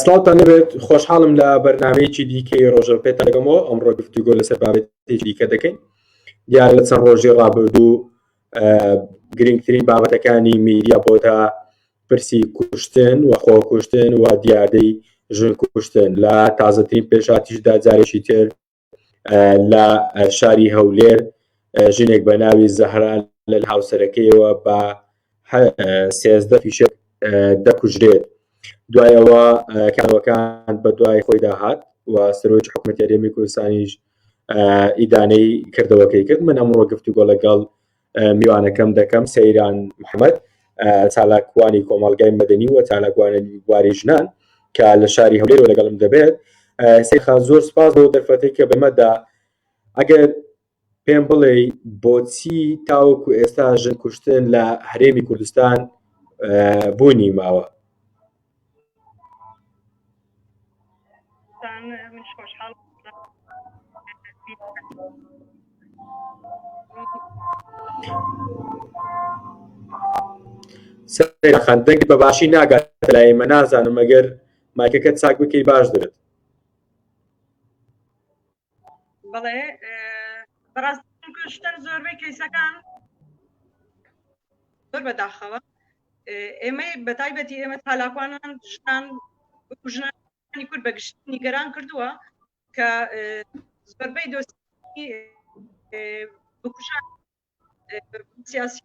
سلااوان نەبێت خۆشحاڵم لە بەرنمەیەکی دیکەی ڕۆژە پێتان دەگەمەوە ئەمڕۆ گفتوگۆ لەسەر بابێتی دیکە دەکەین دیارە لە چەند ڕۆژی ڕابردوو گرنگترین بابەتەکانی میدیا بۆتە پرسی کوشتن و خۆکوشتن و دیادەی ژن کوشتن لە تازەترین پێشاتیشدا جارێکی تر لە شاری هەولێر ژنێک بە ناوی زەهرا لە هاوسەرەکەیەوە بە سێزدە فیشک دەکوژرێت دوایەوە کارەکان بە دوای خۆی داهات و سەرۆک حکوومەت یاریێمی کوردستانیش ئیدانەی کردەوەکەی کرد من ئەمڕۆ گفتوگۆ لەگەڵ میوانەکەم دەکەم سەیران محەممەد چالاکوانی کۆمەڵگای مەدەنی و چالاکوانە بواری ژنان کە لە شاری هەولێرەوە لەگەڵم دەبێت سێخان زۆر سپاس بۆ دەرفەتی کە بەمەدا ئەگەر پێم بڵێ بۆچی تاوەکو ئێستا ژن کوشتن لە هەرێمی کوردستان بوونی ماوە سەرخان دەنگ بە باشی ناگات لای مە نازانم مەگەر مایکەکە چاک بکەی باش دەبێت بەڵێ بەڕاست شتن زۆربەی کەیسەکان زۆر بەداخەوە ئێمەی بەتایبەتی ئێمە تالاکوانان ژنان ژنانی کورد بەگشت نیگەران کردووە کە زۆربەی دۆستی بکوژان سیاسی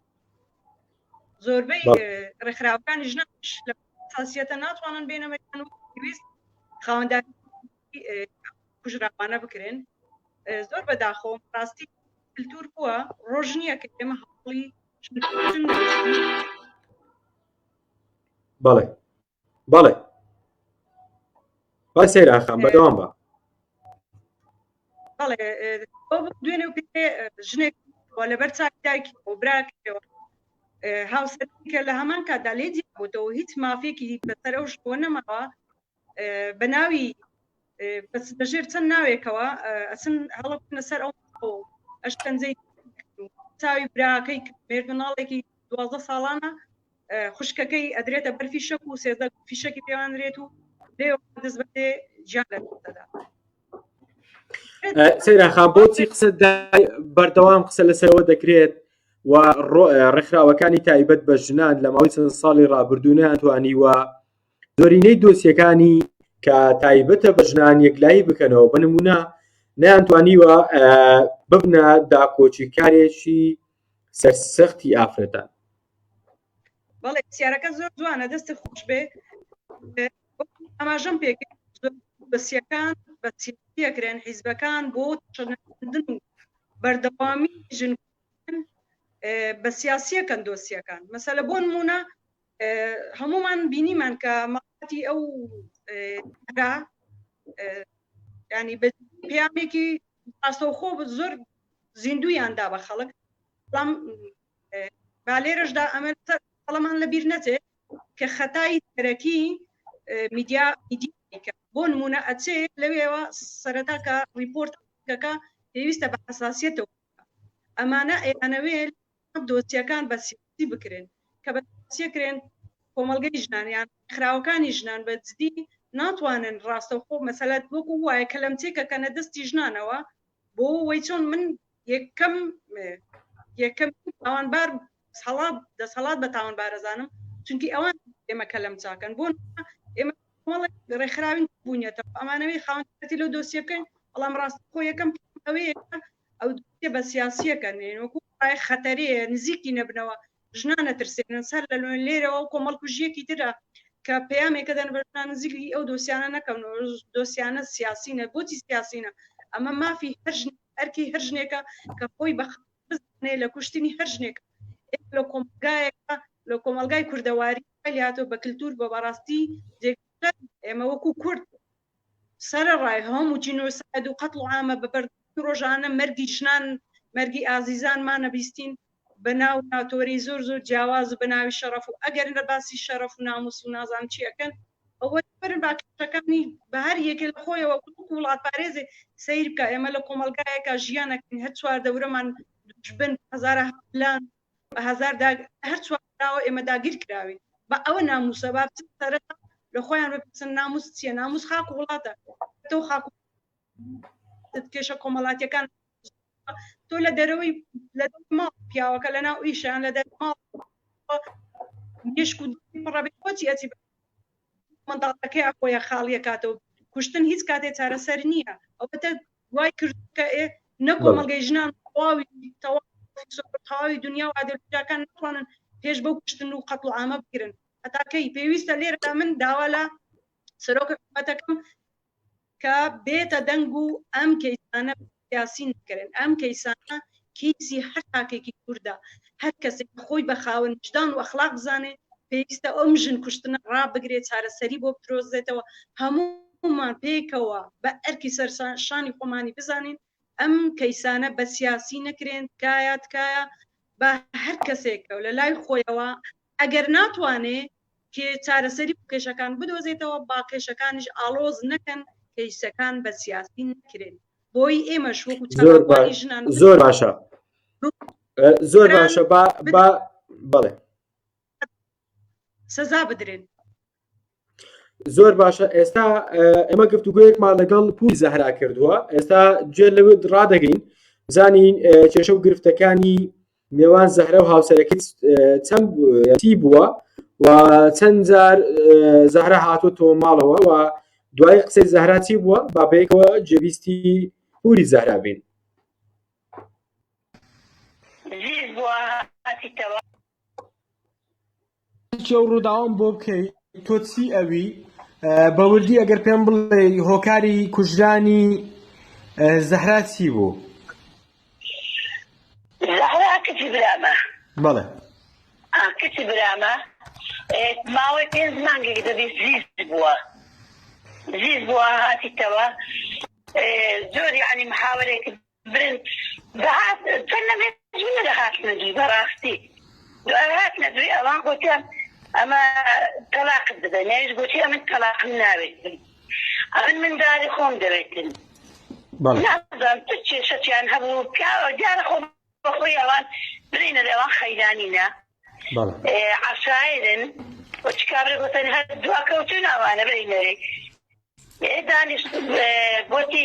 زۆربەی ڕێکخراوەکانی ژنان لە ساسیەتە ناتوانن بێنەمەکان و پێویست خاوەندان کوژراوانە بکرێن زۆر بەداخۆ ڕاستی کللتور بووە ڕۆژ نییە کە ئێمە هەڵی بەڵێ بەڵێ بای سەیر ئاخام بەدەوام بە بەڵێ دوێنێ پێ ژنێک لەبەر چاک دایکی و براکەوە هاوسەرکە لە هەمان کاتدا لێ دیبووتەوە هیچ مافێکی بەسەر ئەو شکۆ نەماوە بە ناوی بەس بەژێر چەند ناوێکەوە ئەچن هەڵە بنە سەر ئەو ئەشکەنجەی چاوی براکەی مێرد مناڵێکی دوازدە ساڵانە خوشکەکەی ئەدرێتە بەر فیشەک و سێزدە فیشەکی پێوانرێت و لێ دەست بەێ جیان لەدا سەیراخا بۆچی قسە بەردەوام قسە لەسەرەوە دەکرێت و ڕێکخراوەکانی تایبەت بە ژنان لە ماوەی چەند ساڵی ڕابردوونیان توانیوە زۆرینەی دۆسیەکانی کە تایبەتە بە ژنان یەکلایی بکەنەوە بە نمونە نەیانتوانیوە ببنە داکۆکی کارێکی سەرسەختی ئافرەتان بەڵێ سیارەکە زۆر جوانە دەستی خۆش بێ ئاماژەم پێ بەسیەکان بە پێکرێن حیزبەکان بۆ چندن و بەردەوامی ژن بە سیاسیەکەن دۆسیەکان مەسەلە بۆ نمونە هەموومان بینیمان کە مەقاتی ئەو را ینی بە پامێکی ئاسەوخۆ زۆر زیندویان دا بە خەڵک بەڵام با لێرەشدا ئەمە قەڵەمان لە بیر نەچێت کە خەتای تەرەکی میدیا بۆ نمونە ئەچێ لەوێەوە سەرەتاکە ریپۆرتەکە پێویستە بە حساسیەتەوە ئەمانە ئەیانەوێت دۆسیەکان بە سیاسی بکرێن، کە بە سیاسیە کرێن کۆمەڵگەی ژنان یان ڕێکخراوەکانی ژنان بە جدی ناتوانن ڕاستەوخۆ مەسەلە وەکو وایە کەلەمچەی کە کەنە دەستی ژنانەوە بۆ وەی چۆن من یەکەم یەکەم تاوانبار هەڵات دەسەڵات بە تاوانبارەزانم چونکی ئەوان ئێمە کەلەم چاکەن بۆ ئێمە ڕێکخراوین بوونیەتەوە ئەمانەوەی خاونەتی لەو دۆسیەکەن بەڵام ڕاست خۆ یەکەم ئەوەیە ئەو دۆسیە بە سیاسیەکە نێن وەکو ڕای خەتەرەیە نزیکی نەبنەوە ژنان نەترسێنن سەر لە لۆن لێرەوە و کۆمەڵ کوژیەکی ترە کە پەیامێکە دەن بە ژنان نزیکی ئەو دۆسیانە نەکەن و دۆسیانە سیاسینە بۆچی سیاسینە ئەمە مافی هەر ژن ئەرکی هەر ژنێکە کە خۆی بە بزانێ لە کوشتنی هەر ژنێک لە کۆمەلگایەکە لە کۆمەلگای کوردەواری لاتۆ بە کللتور بە بەڕاستی جێ ئێمە وەکو کورد سەرەڕای هەموو جینۆساید و قەتڵ و عامە بە بەردەستی ڕۆژانە مەرگی ژنان مەرگی ئازیزانمان نەبیستین بە ناو ناتۆرەی زۆر زۆر جیاواز و بە ناوی شەڕەف و ئەگەر نە باسی شەڕەف و ناموس و نازانم چی ئەکەن ئەوە برن با کێشەکانی بە هەر یەکێ لە خۆیەوە وەکو وڵاتپارێزێ سەیر بکا ئێمە لە کۆمەڵگایەکا ژیان ئەکەین هەر چوار دەورەمان دوژبن هەزارە هەملان بە هەزار داگ هەر چوار دراوە ئێمە داگیر کراوین بە ئەوە ناموسە با بچن سەرەتا لە خۆیان بپرسن ناموس چییە ناموس خاک و وڵاتە تۆ خاک و کێشە کۆمەڵاتیەکان تۆ لە دەرەوەی لە ماڵ پیاوەکە لە ناو ئیشیان لە دەر ماڵ مشک و پڕەبێت بۆچی ئەچی منداڵەکەی ئەخۆیە خاڵیە کاتەوە کوشتن هیچ کاتێ چارەسەر نییە ئەوەتە وای کردووە کە ئێ نە بەڵێ. کۆمەڵگەی ژنان تەواوی تەوا تەواوی دنیا و ئادەبیاکان ناتوانن پێش بەو کوشتن و قەتڵوعامە بگرن هەتا کەی پێویستە لێرەدا من داوا لە سەرۆک حکومەتەکەم کە بێتە دەنگ و ئەم کەیسانە سیاسی نەکەرێن ئەم کەیسانە کیسی هەر تاکێکی کوردە هەر کەسێک کە خۆی بە خاوەن ویژدان و ئەخلاق بزانێ پێویستە ئەم ژن کوشتنە ڕابگرێ چارەسەری بۆ بدرۆزێتەوە هەموومان پێکەوە بە ئەرکی سەر شانی خۆمانی بزانین ئەم کەیسانە بە سیاسی نەکرێن تکایە تکایە بە هەر کەسێکە و لە لای خۆیەوە ئەگەر ناتوانێ کێ چارەسەری بۆ کێشەکان بدۆزێتەوە با کێشەکانیش ئاڵۆز نەکەن کەیسەکان بە سیاسی نەکرێن بۆی ئێمەش وەکو چالاکوانی ژنان زۆر باشە زۆر باشە با بەڵێ سزا بدرێن زۆر باشە ئێستا ئێمە گفتوگویەکمان لەگەڵ پولی زەهرا کردووە ئێستا گوێ لەوێ ڕدەگەین بزانین کێشە و گرفتەکانی نێوان زەهرە و هاوسەرەکە چەند چی بووە و چەند جار زەهرە هاتوو تۆ ماڵەوە و دوای قسەی زەهرا چی بووە بابێکەوە جێویستی پوری زەهرا بین زیز بووە هاتیتەوە باسی ئەو ڕووداوەم بۆ بکەی تۆ چی ئەوی بە وردی ئەگەر پێم بڵێ هۆکاری کوژرانی زەهرا چی بوو زەهرا کچی برامە بەڵێ کچی برامە ماوەی پێنج مانگێک دەبی زیز بووە زیز بووە هاتیتەوە زۆر یعنی محاوەرێک برن دەهات چەن نەبێ جونە دەهاتنە دوی بەڕاستی دوای هاتنە دوی ئەوان گوتیان ئەمە تەلاقت بدە نێویش گوتی ئەمن تەلاقم ناوێتن ئەمن منداری خۆم دەوێتن نازان چ کێشەتیان هەبوو پیاوە دیارە خۆ بەخۆی ئەوان برینە لەوان خەیرانینە عشاعرن وچکابرە گوتن هەر دواکەوتون ئەوانە برینەرێک دانیش گوتی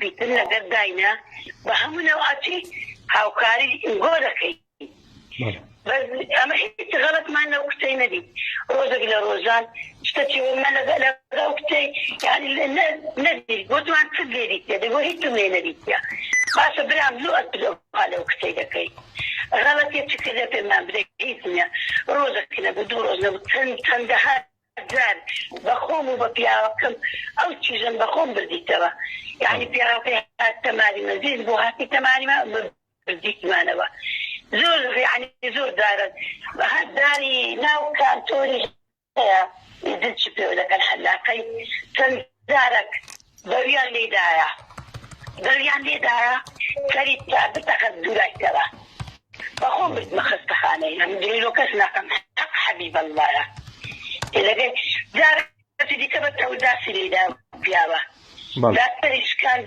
بیتن لەگەر داینا بە هەموو نەوعەتی هاوکاری گۆ دەکەی بەس ئەمە هیچ غەلەتمان لەو کچەی نەدیت ڕۆژێک لە ڕۆژان شتەکی ومە لەگەڵ کچەی یعنی نەدیت بۆ جوان چ لێدیت دەبێ بۆ هیچم لێ نەدیتە باشە برام لۆ ئەترۆها لەو کچەی دەکەی غەلەتێ چ کردە پێمان بدە هیچ نیە ڕۆژەک نەبوو دوو ڕۆژ نەبوو چەند چەندەها جار بە خۆم و بە پیاوەکەم ئەو چیژەم بە خۆم بردیتەوە یانی پیاوەکەی هاتتە مالی من زیز بۆ هاتیتە مالی من بردیتمانەوە زۆر یانی زۆر دارە هەر داری ناو کانتۆری هەیە ئیدن چی پێوە دەکەن حەلاقەی چەند زارەک بەویان لێ دایە بەویان لێ دایە سەری بکە بتەقە دوورای کەرە بە خۆم بردمە خەستەخانەی ئەم درۆ کەس ناکەم حەق حەبیب اللەیە تێ دەگەی جارەکی دیکە بە تەور داسی لێ دایە پیاوە دادپەری شکاند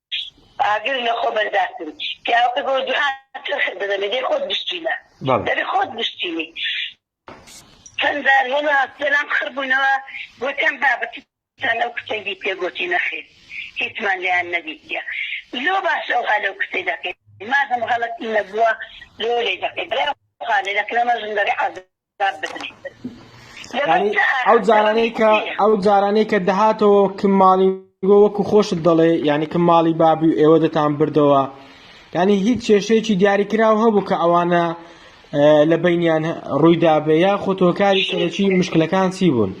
ئاگر لە خۆ بەرداشتن پیاوەکە گۆ جهان چرخت دەدە لە دێ خۆت بشتینە دەبێ خۆت بشتینی چەند جار هێنا سەرام خڕ بوونەوە گۆتیان بابە چتان لەو کچەی دیتیە گۆتی نەخیر هیچمان لێیان نەدیتیە لۆ باش ئەوها لەو کچەی دەکەی مادەم غەڵەتی نەبووە لۆ لێی دەکەی برای خالێ دەکرەمە ژن دەبێ عەزێت ئەو جارانەی کە ئەو جارانەی کە دەهاتەوە کە ماڵی گۆ وەکو خۆشت دەڵێ یعنی کە ماڵی بابی و ئێوە دەتان بردەوە ینی هیچ کێشەیەکی دیاریکراو هەبوو کە ئەوانە لە بینیان ڕوویدا بێ یا خۆتۆکاری سەرەکی مشکلەکان چی بوون؟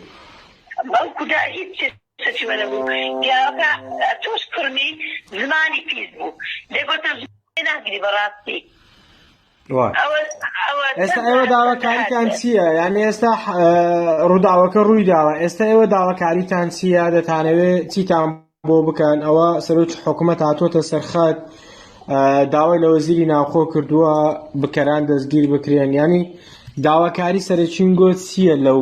بەڵکودا هیچ سەتی وەرە بوو پیاوەکە توش کوڕمی زمانی پیس بوو دەگۆتە زۆر لێ ناگری بەڕاستی ئێستا ئێوە داواکاریتان چییە یان ئێستا ڕووداوەکە ڕووی داوە ئێستا ئێوە داواکاریتان چییە دەتانەوێ چیتان بۆ بکەن ئەوە سەرۆکی حکوومەت هاتووەتە سەرخەت داوای لە وەزیری ناوخۆ کردووە بکەران دەستگیر بکرێن ینی داواکاری سەرچین گۆت چییە لەو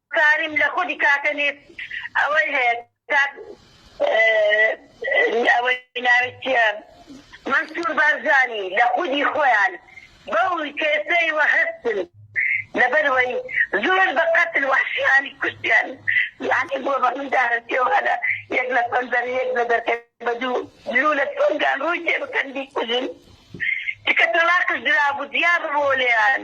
کاریم لە خودی کاکە نیت ئەوەی هەیە کاک ئەوەی ناوی چیە مەنسور بارزانی لە خودی خۆیان بەو کێسەی وە هەستن لەبەر وەی زۆر بە قەتل وەحشیانی کوشتیان یانی بۆ بە من دارەسیە و هەلە یەک لە پەنجەرە یەک لە دەرکە بە دوو لولە تۆنگان ڕووی تێ بکەن بیکوژن تکە تەڵاقش درابوو جیا ببۆ لێیان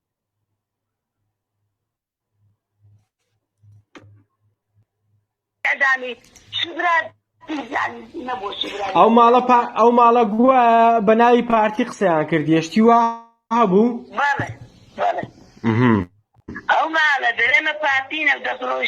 ئەو ماڵە ئەو ماڵە گووە بە ناوی پارتی قسەیان کرد یشتی وا بوو ئەو ماڵە دەێمە پارتینە دەڕۆژ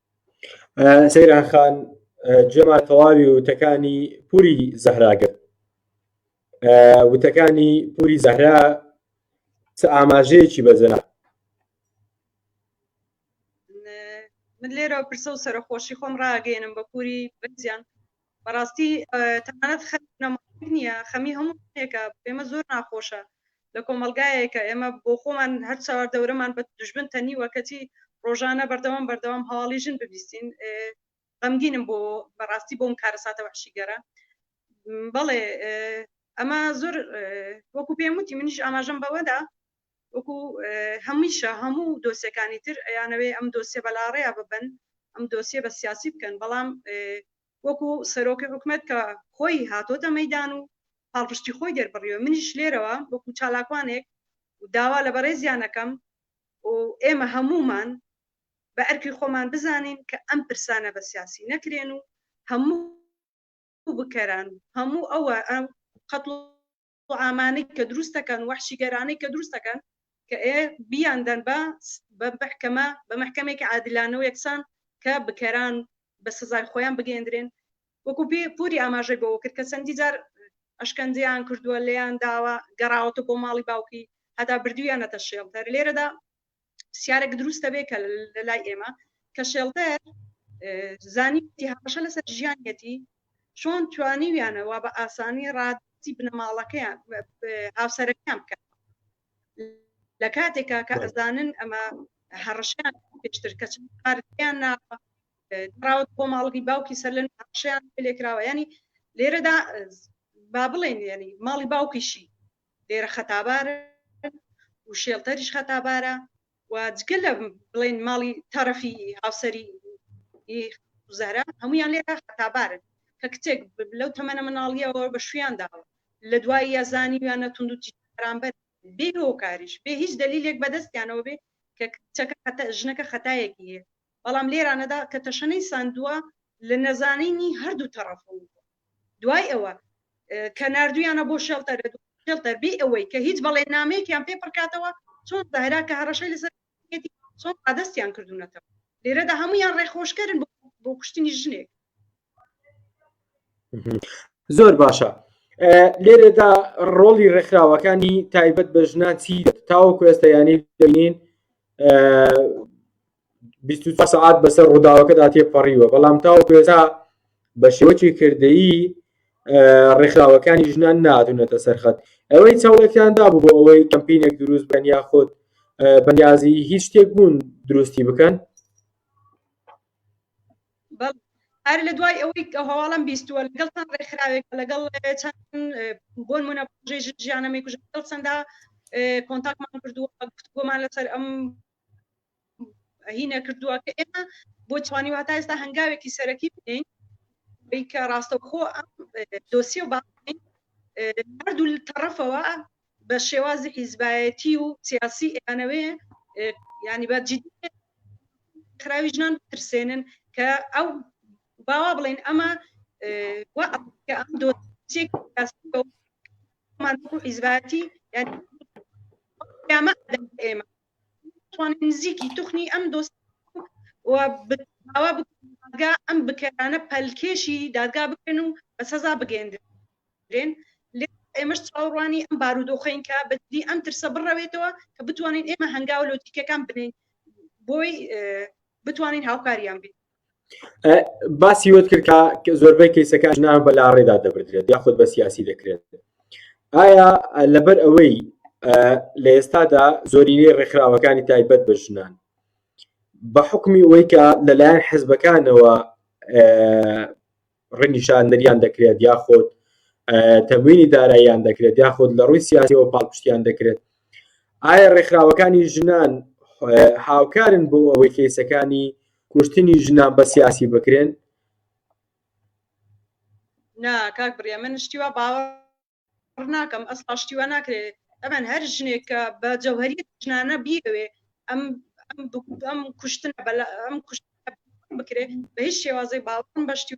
سەیران خان گوێمان تەواوی وتەکانی پوری زەهرا گرت وتەکانی پوری زەهرا چ ئاماژەیەکی بەجێنا من لێرە پرسە و سەرخۆشی خۆم ڕاگەێنم بە پوری بەزیان بەڕاستی تەنانەت خەمی بنەماڵەیەک نییە، خەمی هەموو ژنێکە، بۆ ئێمە زۆر ناخۆشە لە کۆمەڵگایەک کە ئێمە بۆ خۆمان هەر چاوار دەورەمان بە دوژمن تەنیوە کەچی ڕۆژانە بەردەوام بەردەوام هەواڵی ژن ببیستین غەمگینم بۆ بەڕاستی بۆم کارەساتە وحشیگەرە بەڵێ ئەمە زۆر وەکو پێم وتی منیش ئاماژەم بەوەدا وەکو هەمیشە هەموو دۆسیەکانی تر ئەیانەوێ ئەم دۆسیە بە لاڕێیا ببەن، ئەم دۆسیە بە سیاسی بکەن، بەڵام وەکو سەرۆکی حکومەت کە خۆی هاتۆتە مەیدان و پاڵپشتی خۆی دەربڕیوە، منیش لێرەوە وەکو چالاکوانێک داوا لە بەڕێزیان ئەکەم و ئێمە هەموومان بە ئەرکی خۆمان بزانین کە ئەم پرسانە بە سیاسی نەکرێن و هەموو بکەران و هەموو ئەوە قەتڵ و عامانەی کە دروستەکەن وەحشیگەرانەی کە دروستەکەن کە ئێ بیان دەن بە بە بەحکەمە بە مەحکەمێکی عادلانەو یەکسان کە بکەران بە سزای خۆیان بگەیەندرێن وەکو پێ پوری ئاماژەی بەوە کرد کە چەندی جار ئەشکەنجەیان کردووە لێیان داوە گەڕاوەتە بۆ ماڵی باوکی هەتا بردویانەتە شێڵتەر لێرەدا پرسیارێک دروست دەبێت کە لە لای ئێمە کە شێڵتەر زانیتی هەڕەشە لەسەر ژیانەتی چۆن توانیویانەوە بە ئاسانی ڕادی بنەماڵەکەیان هاوسەرەکان بکەن لە کاتێکا کە ئەزانن ئەمە هەڕشیان پێشتر کە چارتیان ناوە دراوت بۆ ماڵگی باوکی سەر لە هەڕشیان لێکراوە ینی لێرەدا با بڵێن ینی ماڵی باوکیشی لێرە خەتابارن و شێڵتەریش خەتابارە و جگە لە بڵێن ماڵی تەرەفی هاوسەری زەرا هەمویان لێرە خەتابارن کە کچێک لەو تەمەە مناڵیەوە بە شویان داوە لە دوای یازانیویانە توندوتی بەرامبەر بێ هۆکاریش بێ هیچ دلیلێک بەدەستیانەوە بێ کە کچەکە خەتە ژنەکە خەتایەکی هەیە بەڵام لێرانەدا کە تەشەنەی ساندووە لە نەزانینی هەردوو تەڕەفەوە بووە دوای ئەوە کە ناردویانە بۆ شێڵتەر شێڵتەر بێ ئەوەی کە هیچ بەڵێننامەیەکیان پێ پڕکاتەوە چۆن زەهرا کە هەڕەشەی لەسەر چۆن ڕادستیان کردوونەتەوە لێرەدا هەمویان ڕێخۆشکەرن بۆ کوشتنی ژنێک زۆر باشە لێرەدا ڕۆڵی ڕێکخراوەکانی تایبەت بە ژنان چی تاوەکو ئێستا یانی دەین 24 سعات بەسەر ڕووداوەکەدا تێپەڕیوە بەڵام تاوەکو ئێستا بە شێوەکی کردەیی ڕێکخراوەکانی ژنان نادونەتە سەرخەت ئەوەی چاڵێکیان دابوو بۆ ئەوەی کەمپینێک دروست بن یاخود بەنیازی هیچ شتێک بوون دروستی بکەن هەر لە دوای ئەوەی کە هەواڵم بیستووە لەگەڵ چەند ڕێکخراوێک لەگەڵ چەند بۆن منە ژیانەمەی کوژ لەگەڵ چەندا کۆنتاکمان کردووە گفتگۆمان لەسەر ئەم هینە کردووە کە ئێمە بۆ توانی واتا ئێستا هەنگاوێکی سەرەکی بدەین بیکە ڕاستەخۆ ئەم دۆسی و باین هەردوو تەڕەفەوە بە شێوازی حیزبایەتی و سیاسی ئەیانەوێ ینی بە جدی خراوی ژنان ترسێنن کە ئەو باوا بڵێن ئەمە ئەم دۆسیێک حیزبایەتی یعنی ئێمە توانین نزیکی توخنی ئەم دۆسیە و داوا بکەین دادگا ئەم بکەرانە پەلکێشی دادگا بکەن و بە سەزا بگەێندرێن ئێمەش چاوەڕوانی ئەم بارودۆخین کە بەدی ئەم ترسە بڕەوێتەوە کە بتوانین ئێمە هەنگاو لۆجیکەکان بنین بۆی بتوانین هاوکاریان بین باسی وت کرد کە زۆربەی کەیسەکە ژنان بە لاڕێدا دەبدرێت یاخود بە سیاسی دەکرێت ئایا لەبەر ئەوەی لە ئێستادا زۆرینەی ڕێکخراوەکانی تایبەت بە ژنان بە حکمی ئەوەی کە لەلایەن حزبەکانەوە ڕەنگی شاندەریان دەکرێت یاخۆت تەموینی داراییان دەکرێت یاخۆت لە ڕووی سیاسیەوە پاڵپشتیان دەکرێت ئایا ڕێکخراوەکانی ژنان هاوکارن بۆ ئەوەی کەیسەکانی کوشتنی ژنان بە سیاسی بکرێن نا کاک بڕێ من شتیوا باوە باوەڕ ناکەم ئەسڵا شتی وا ناکرێت ئەمەن هەر ژنێک کە بە جەوهری ژنانە بیەوێ ئەم ئەم ئەم کوشتن بەلا ئەم کوشت بکرێت بە هیچ شێوازی باوەڕم بەشتی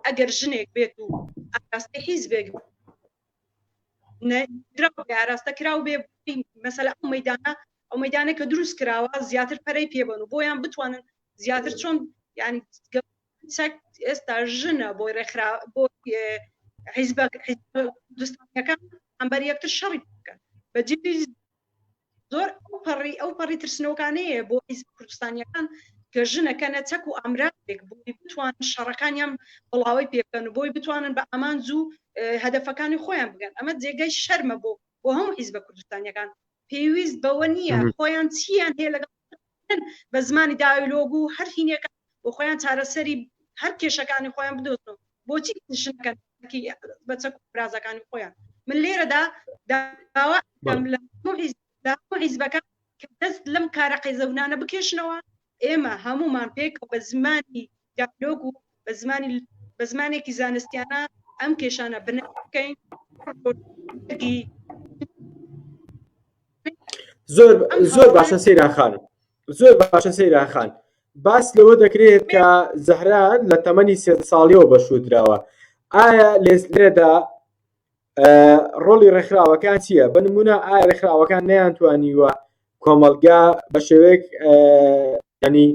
ئەگەر ژنێک بێت و ئاراستەی حیز بێک ئاراستە کراو بێ مەسەلا ئەو مەدانە ئەو مەدانە کە دروست کراوە زیاتر پەرەی پێبن و بۆیان بتوانن زیاتر چۆن ینی کچەک ئێستا ژنە بۆی ڕێکخرا بۆ حیزبە دوستەکان ئەمبەر یەکتر شەڕی بکەن بە جدی زۆر ئەو پەڕی ئەو پەڕی ترسنەوەکانەیە بۆ حیزب کوردستانیەکان کە ژنەکەنە چەک و ئامراتێک بۆی بتوان شەڕەکانیان بڵاوی پێکەن و بۆی بتوانن بە ئامانج و هەدفەکانی خۆیان بگەن ئەمە جێگەی شەرمە بۆ بۆ هەموو حیزبە کوردستانیەکان پێویست بەوە نییە خۆیان چیان هەیە لەگەڵ بە زمانی دایلۆگ و هەر هینێکە بۆ خۆیان چارەسەری هەر کێشەکانی خۆیان بدۆزن بۆچی نشنەکەن بە چەک برازەکانی خۆیان من لێرەدا داوا حیزبەکان دەست لەم کارە قەیزەونانە بکێشنەوە ئێمە هەمومان پێک بە زمانی دیالۆگ و بە زمانێکی زانستیانە ئەم کێشانە بنەکەین زۆر زۆر باشە سەیراخانم زۆر باشە سەیراخان باس لەوە دەکرێت کە زەهرا لە تەمەنی سێ ساڵیەوە بەشودراوە ئایا لێسلێدا ڕۆڵی ڕێکخراوەکان چییە بە نمونە ئایا ڕێکخراوەکان نەیانتوانیوە کۆمەلگا بە شێوەیەک ینی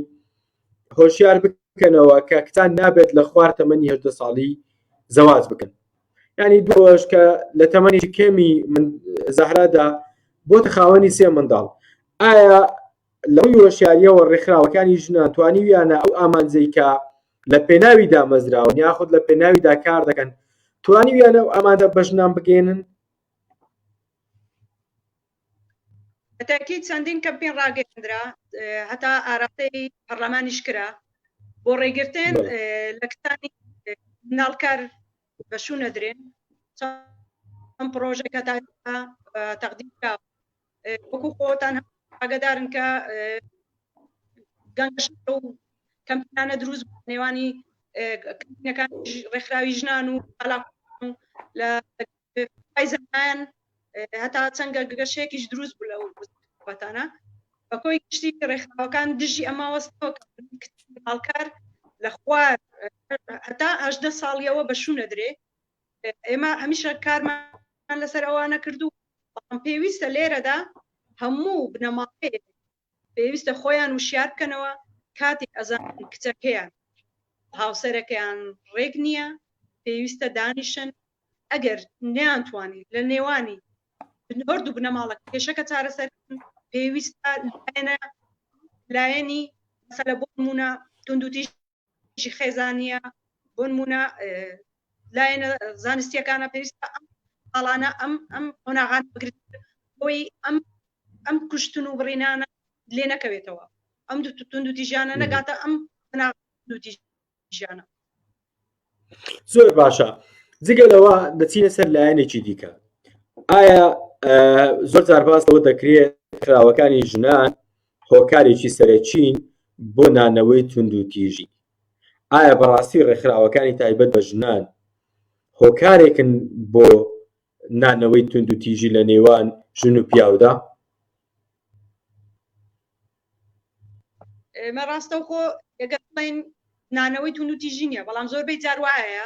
هۆشیار بکەنەوە کە کچان نابێت لە خوار تەمەنی هەدە ساڵی زەواز بکەن ینی دوۆش کە لە تەمەنی کێمی من زەهرادا بۆ تەخاوەنی سێ منداڵ ئایا لەو هۆشیاریەوە ڕێکخراوەکانی ژنان توانیویانە ئەو ئامانجەی کە لە پێناوی دامەزراون یاخود لە پێناویدا کار دەکەن توانیویانە و ئامادە بە ژنان بگەێنن هەتاکی چەندین کەمپین ڕاگەندرا هەتا ئاراستەی پەرلەمانیش کرا بۆ ڕێگرتن لە کتانی ناڵکار بەشوو نەدرێن ئەم پرۆژێکە تا تەقدیم وەکو خۆتان ئاگدارن کە کەمپانە دروست نێوانی کەمپینەکان ڕێکخراوی ژنان و لە زمان هەتا چەنگە گەشێکیش دروست بوو لە وەتانە بە کۆی گشتی ڕێکخراوەکان دژی ئەما وەستەوە هاڵکار لە خوار هەتا هەدە ساڵیەوە بە شوونە درێ ئێمە ئەمیشە کارمان لەسەر ئەوانە کردو بەڵام پێویستە لێرەدا هەموو بنەماڵەیە پێویستە خۆیان وشار بکەنەوە کاتێک ئەزان کچەکەیان هاوسەرەکەیان ڕێک نییە پێویستە دانیشن ئەگەر نیانتوانی لە نێوانی هەرد و بنەماڵە کێشەکە چارەسەر پێویستە لایەنە لایەنی مەسەلە بۆ نمونە توندوتیژ ژی خێزانە بۆنمونە لایەنە زانستیەکانە پێویستە ئەم ئاڵانە ئەم ئەم قۆناغان بگرێت بۆی ئەم ئەم کوشتن و بڕینانە لێ نەکەوێتەوە ئەم دو تون دو تیژانە نەگاتە ئەم دو تیژانە زۆر باشە جگە لەوە دەچینە سەر لایەنێکی دیکە ئایا زۆر زارباس لەوە دەکرێت کراوەکانی ژنان هۆکارێکی سەرەکین بۆ نانەوەی توندوتیژی. ئایا بەڕاستی ڕێکخراوەکانی تایبەت بە ژنان هۆکارێکن بۆ نانەوەی توندوتیژی لە نێوان ژن و پیاودا؟ ئێمە ڕاستەوخۆ دەگەڵین نانەوەی توندوتیژی نییە، بەڵام زۆربەی جار وایە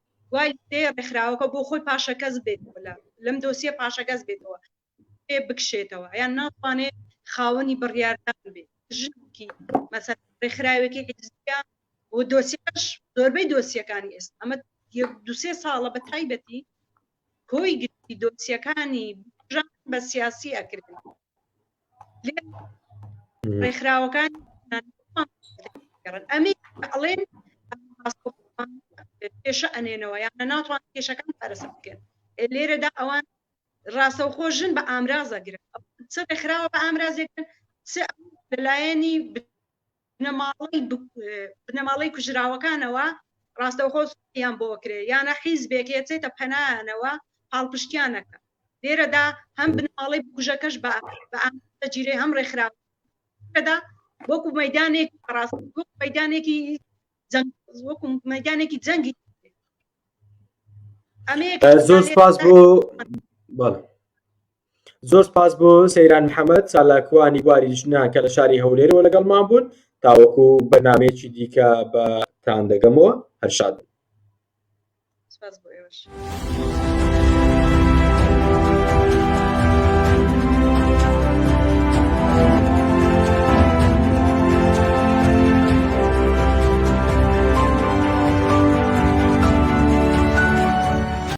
دوای دێ ڕێکخراوەکە بۆ خۆی پاشەکەس بێت لەم دۆسیە پاشەکەس بێتەوە پێ بکشێتەوە یان ناتوانێت خاوەنی بڕیاردان بێت ژنکی مەسەر ڕێکخراوێکی حزبە و دۆسیەکەش زۆربەی دۆسیەکانی ئێستا ئەمە دوسێ ساڵە بە تایبەتی کۆی گشتی دۆسیەکانی بژان بە سیاسی ئەکرێن ڕێکخراوەکان ئەمە ئەڵێن کێشە ئەنێنەوە یانە ناتوان کێشەکان پارەسە بکەن لێرەدا ئەوان ڕاستەوخۆ ژن بە ئامرازە گرن چ ڕێکخراوە بە ئامرازێکن لەلایەنی بنەماڵەی کوژراوەکانەوە ڕاستەوخۆ سوکیان بۆ کرێ یانە حیزبێک یەچێتە پەنایانەوە پاڵپشتیانەکە لێرەدا هەم بنەماڵەی بکوژەکەش بە بەجیرەی هەم ڕێکخراوەدا وەکو مەدانێک ڕاست مەدانێکی وەکو مەدانێکی جەنگی ئەمەیە زۆر سپاس بۆ بەڵێ زۆر سپاس بۆ سەیران محەمەد چالاکوانی بواری ژنان کە لە شاری هەولێرەوە لەگەڵمان بوون تاوەکو بەرنمەیەکی دیکە بە تان دەگەمەوە هەرشاد سپاس بۆ ئێوەش.